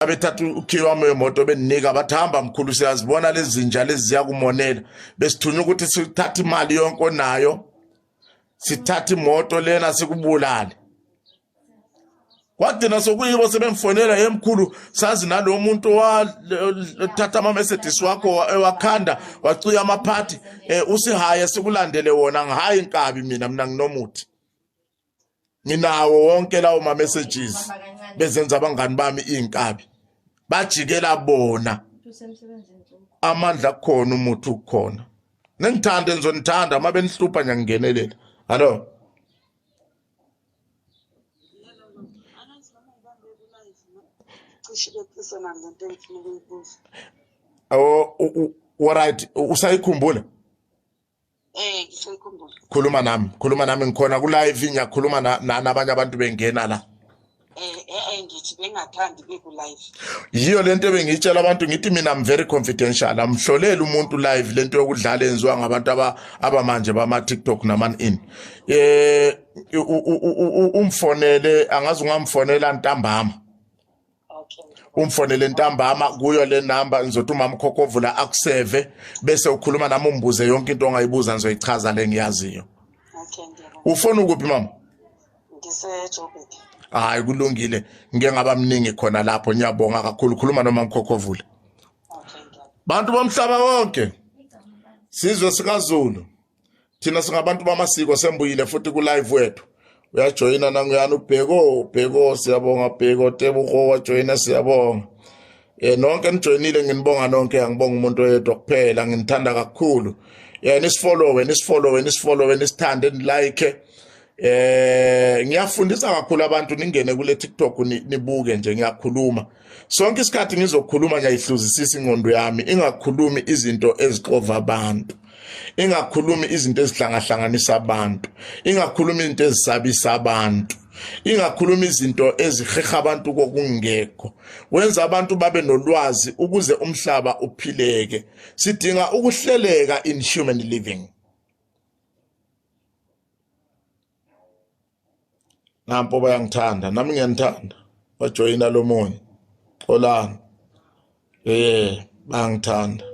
abethatha ukhiye wami wemoto bendinika bathi hamba mkhulu siyazibona lezi zinja lezi ziyakumonela besithunywa ukuthi sithathe imali yonke onayo sithathe imoto lena sikubulale kwagcina sokuyibo sebemfonela yemkhulu sazi nalo muntu wathatha ama-mercedes wakho wakhanda wacuya amaphathi um eh, usihaye sikulandele wona ngihayi nkabi mina mina nginomuthi nginawo wonke lawo ma messages bezenza abangani bami izinkabi bajikela bona amandla khona umuthi ukhona nengithanda ngizonithanda uma benihlupha ngiyangenelela hallo Oh, right usayikhumbula Eh, khuluma nami khuluma nami ngikhona ku live ngiyakhuluma nani abanye abantu bengena la eh, eh, eh ngithi bengathandi beku live yiyo lento ebengitshela abantu ngithi mina I'm very confidential amhlolela umuntu live lento yokudlala enziwa ngabantu aba abamanje bama TikTok naman in eh umfonele angazi ungamfonela ntambama umfonele ntambama kuyo le number ngizothi umama ukhokovula akuseve bese ukhuluma nami umbuze yonke into ongayibuza ngizoyichaza le ngiyaziyo ufona ukuphi mama ngisejoburg hayi kulungile ngike ngaba mningi khona lapho ngiyabonga kakhulu khuluma noma ngikhokhovule bantu bomhlaba wonke sizwe sikazulu thina singabantu bamasiko sembuyile futhi kulive wethu uyajoyina nanguyani ubheko ubheko siyabonga bheko tebuho wajoyina siyabonga eh nonke nijoyinile nginibonga nonke angibonga umuntu oyedwa kuphela nginithanda kakhulu eh nisifollowe nisifollowe nisifollowe nisithande nilike eh ngiyafundisa kakhulu abantu ningene kule TikTok nibuke nje ngiyakhuluma sonke isikhathi ngizokhuluma ngiyayihluzisisa ingqondo yami ingakhulumi izinto ezixova abantu ingakhulumi izinto ezihlangahlanganisa abantu ingakhulumi izinto ezisabisa abantu ingakhuluma izinto eziheha abantu kokungekho wenza abantu babe nolwazi ukuze umhlaba uphileke sidinga ukuhleleka in human living nampo bayangithanda nami ngiyanithanda bajoyina lo munye xolani eh bangithanda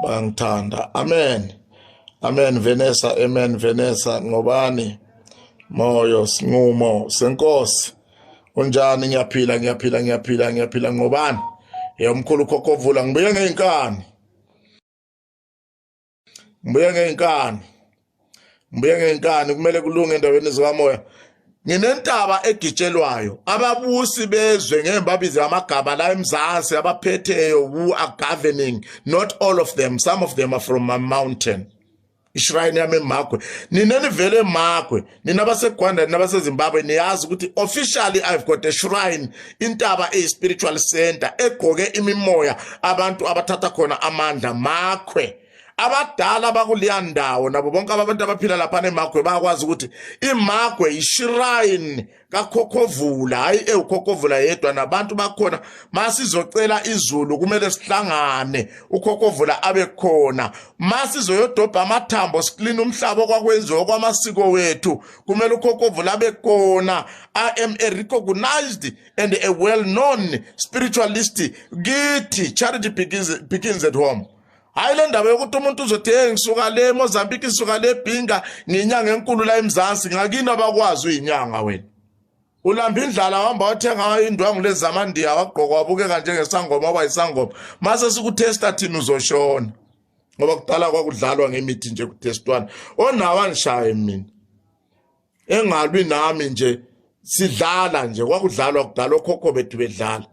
bangithanda amen amen venesa amen venesa ngobani moyo sinqumo senkosi unjani ngiyaphila ngiyaphila ngiyaphila ngiyaphila ngobani yomkhulu khokhovula ngibuye ngey'nkani ngibuye ngenkani ngibuye ngenkani kumele kulunge endaweni zikamoya nginentaba egitshelwayo ababusi bezwe ngeke babize amagama la emzansi abaphetheyo who are governing not all of them some of them are from my mountain ishrine yami emagwe nina nivele emagwe nina basegwanda nina basezimbabwe niyazi ukuthi officially i've got a shrine intaba eyi-spiritual center egoke imimoya abantu abathatha khona amandla makhwe abadala bakuleya ndawo nabo bonke abantu abaphila laphana emagwe bayakwazi ukuthi imagwe yishirayini kakhokhovula hhayi ewukhokhovula yedwa nabantu bakhona masizocela izulu kumele sihlangane ukhokhovula abe khona masizoyodobha amathambo siklina umhlaba okwakwenziwa kwamasiko wethu kumele ukhokovu labe kona i am a recognized and a well known spiritualist kithi charity begins, begins at home hayi le ndaba yokuthi umuntu uzothi hey ngisuka le mozambique ngisuka le bhinga nginyanga enkulu la emzansi ngakini abakwazi uyinyanga wena ulamba indlala wahamba wathenga indwangu lezi zamandiya wagqoka wabukeka njengesangoma waba yisangoma mase sikutesta thina uzoshona ngoba kudala kwakudlalwa ngemithi nje kutestwana onawa ngishaye mina engalwi nami nje sidlala nje kwakudlalwa kudala okhokho bethu bedlala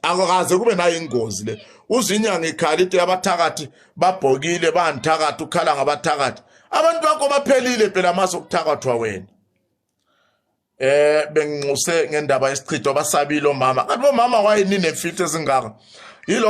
akukaze kube nayo ingozi le uzinyanga ikhala ite abathakathi babhokile banithakathi ukhala ngabathakathi abantu bakho baphelile phela amaso okuthakathwa wena eh benginxuse ngendaba yesichitho basabile omama kanti bomama wayini nemfihlo ezingaka yilo